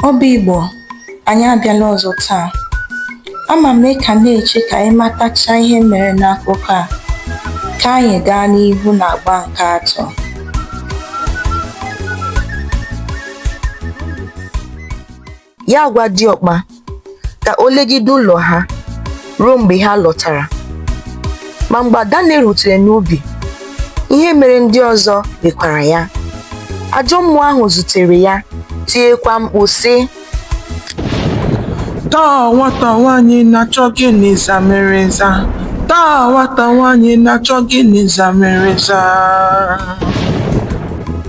Obi Igbo, anyị abịala ọzọ taa. Ama m ka na-eche ka anyị matacha ihe mere n'akụkọ a. Ka anyị gaa n'ihu n'agba nke atọ. ya agwa diọkpa ka o legide ụlọ ha ruo mgbe ha lọtara ma mgbe adanne rutere n'ubi ihe mere ndị ọzọ mekwara ya ajọ mmụọ ahụ zutere ya tiekwa mkpu sị taa nwata nwaanyị na-achọ gịnị zamiriza taa nwata nwaanyị na-achọ gịnị zamiriza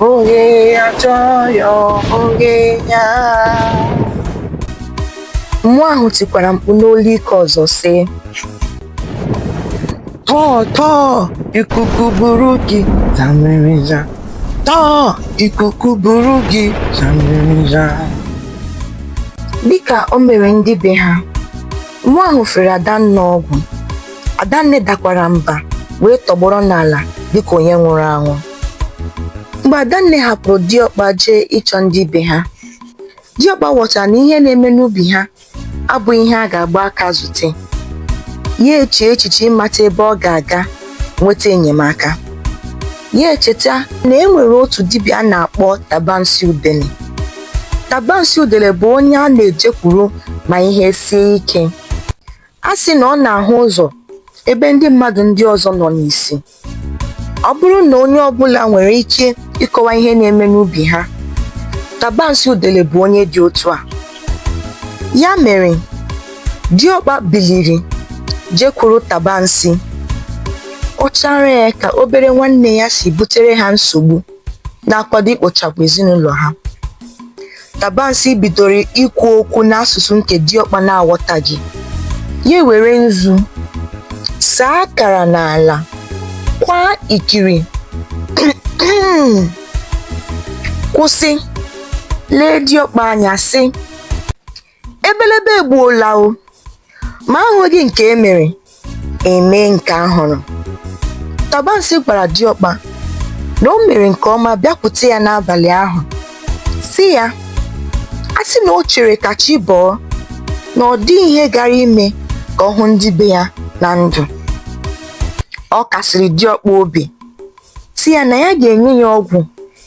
Onye achọghị onye ya. Mmụọ ahụ tikwara mkpu n'olu ike ọzọ sị tọọ tọọ ikuku buru gị zamiriza tọọ ikuku buru gị zamiriza dịka o mere ndị be ha mmụọ ahụ fere adanne ọgwụ adanne dakwara mba wee tọgbọrọ n'ala dịka onye nwụrụ anwụ mgbe adanne hapụrụ diọkpa jee ịchọ ndị be ha diọkpa ghọtara na ihe na-eme n'ubi ha abụghị ihe a ga-agba aka zute ya echee echiche ịmata ebe ọ ga-aga nweta enyemaka ya echeta na e nwere otu dibịa a na-akpọ tabansi udele tabansi udele bụ onye a na-ejekwuru ma ihe sie ike a sị na ọ na-ahụ ụzọ ebe ndị mmadụ ndị ọzọ nọ n'isi ọ bụrụ na onye ọbụla nwere ike ịkọwa ihe na-eme n'ubi ha tabansi udele bụ onye dị otu a ya mere diọkpa biliri jekwuru tabansi kọchaara ya ka obere nwanne ya si butere ha nsogbu na-akwado ikpochapụ ezinụlọ ha Tabansi bidoro ikwu okwu n'asụsụ nke Diọkpa na-aghọtaghị. Ya ewere nzu saa akara n'ala, kwaa ikiri, kwụsị, lee Diọkpa anya sị, ebelebe egbuola o ma ahụghị nke e mere e mee nke a hụrụ tabansi gwara diọkpa na o mere nke ọma bịakwute ya n'abalị ahụ sị ya a sị na o chere ka chi bọọ na ọ dịghị ihe gara ime ka ọ hụ ndị be ya na ndụ ọ kasiri diọkpa obi sị ya na ya ga-enye ya ọgwụ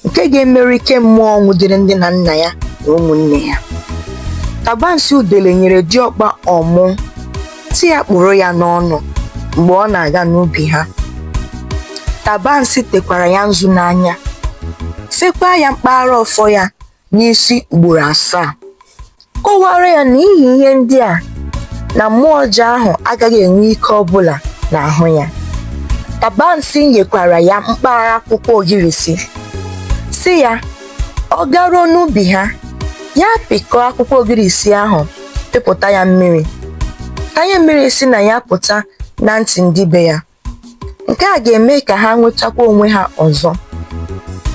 nke ga-emerụ ike mmụọ nwụdere nne na nna ya na ụmụnne ya tabansi udele nyere diọkpa ọmụ sị ya kpụrụ ya n'ọnụ mgbe ọ na-aga n'ubi ha tabansi tekwara ya nzu n'anya sekwa ya mkpara ọfọ ya n'isi ugboro asaa kọwara ya na n'ihi ihe ndị a na mmụọ ọjọọ ahụ agaghị enwe ike ọbụla n'ahụ ya tabansi nyekwara ya mkpara akwụkwọ ogirisi sị ya ọ garuo n'ubi ha ya pịkọọ akwụkwọ ogirisi ahụ pịpụta ya mmiri tanye mmiri si na ya pụta na ntị ndị be ya nke a ga-eme ka ha nwetakwa onwe ha ọzọ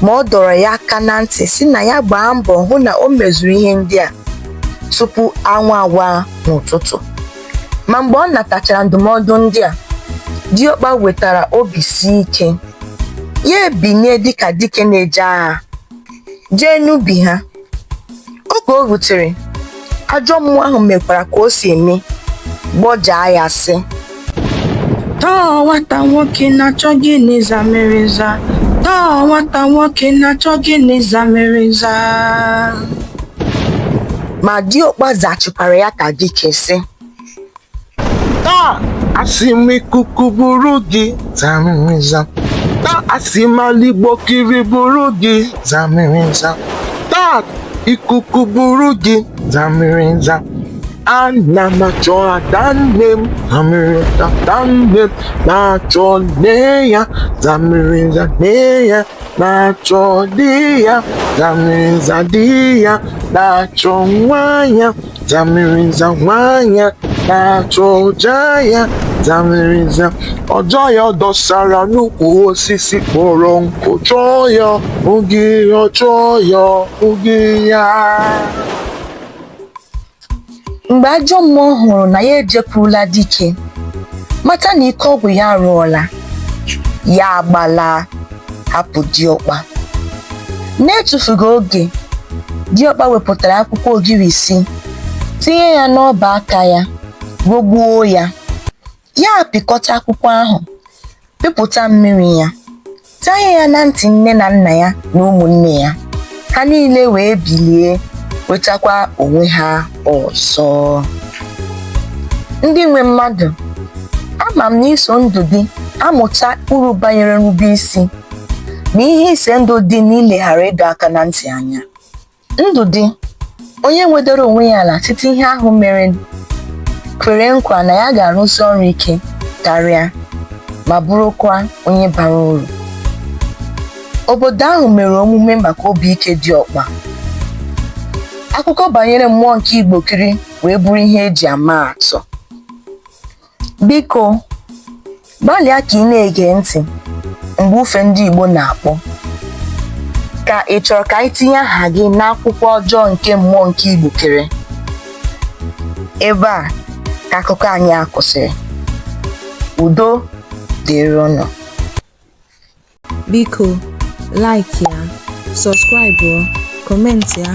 ma ọ dọrọ ya aka na ntị sị na ya gbaa mbọ hụ na o mezuru ihe ndị a tupu anwụ awa n'ụtụtụ ma mgbe ọ natachara ndụmọdụ ndị a diọkpa wetara obi si ike ya ebinye dịka dike na-eje agha jee n'ubi ha oge o rutere ajọ mmụọ ahụ mekwara ka o si eme gbọjaa ya sị taa nwata nwoke na-achọ gịnị zamịrịza taa nwata nwoke na-achọ gịnị zamịrịza ma diọkpa zachikwara ya ka dike sị taa asị m ikuku buru gị zamịrịza taa asị m aligbo kiri buru gị zamịrịza taa ikuku buru gị zamịrịza ana m achọ ada nne m zamịrịza ada nne m na-achọ nne ya zamịrịza nne ya na-achọ di ya zamịrịza di ya na-achọ nwa ya Zamiriza nwa ya na-achọ ọja ya Zamiriza ọja ya dọsara n'ukwu osisi kpọrọ nkụ chọọ ya oge ya chọọ ya oge ya mgbe ajọ mmụọ hụrụ na ya ejekwurula dike mata na ike ọgwụ ya arụọla ya agbala hapụ diọkpa n'etufughị oge diọkpa wepụtara akwụkwọ ogirisi tinye ya n'ọba aka ya gogbuo ya ya apịkọta akwụkwọ ahụ pịpụta mmiri ya tanye ya na ntị nne na nna ya na ụmụnne ya ha niile wee bilie nwetakwa onwe ha ọzọ ndị nwe mmadụ ama m na i so ndị ga-amụta uru banyere nrube isi na ihe ize ndụ dị n'ileghara ịdọ aka na ntị anya ndụ dị onye nwedoro onwe ya ala site ihe ahụ mere kwere nkwa na ya ga-arụsi ọrụ ike karịa ma bụrụkwa onye bara uru obodo ahụ mere omume maka obi ike diọkpa akụkọ banyere mmụọ nke igbokiri wee bụrụ ihe e ji ama atụ Biko, gbalịa ka ị na-ege ntị mgbe ufe ndị Igbo na-akpọ. Ka ị chọrọ ka anyị tinye aha gị n'akwụkwọ ọjọọ nke mmụọ nke Igbokiri? Ebe a ka akụkọ anyị a kwụsịrị. Udo dịrị unu. biko like ya subscribe comment ya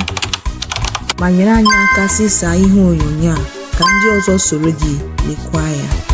ma nyere anyị aka zisa ihe onyonyo a ka ndị ọzọ soro gị lekwa ya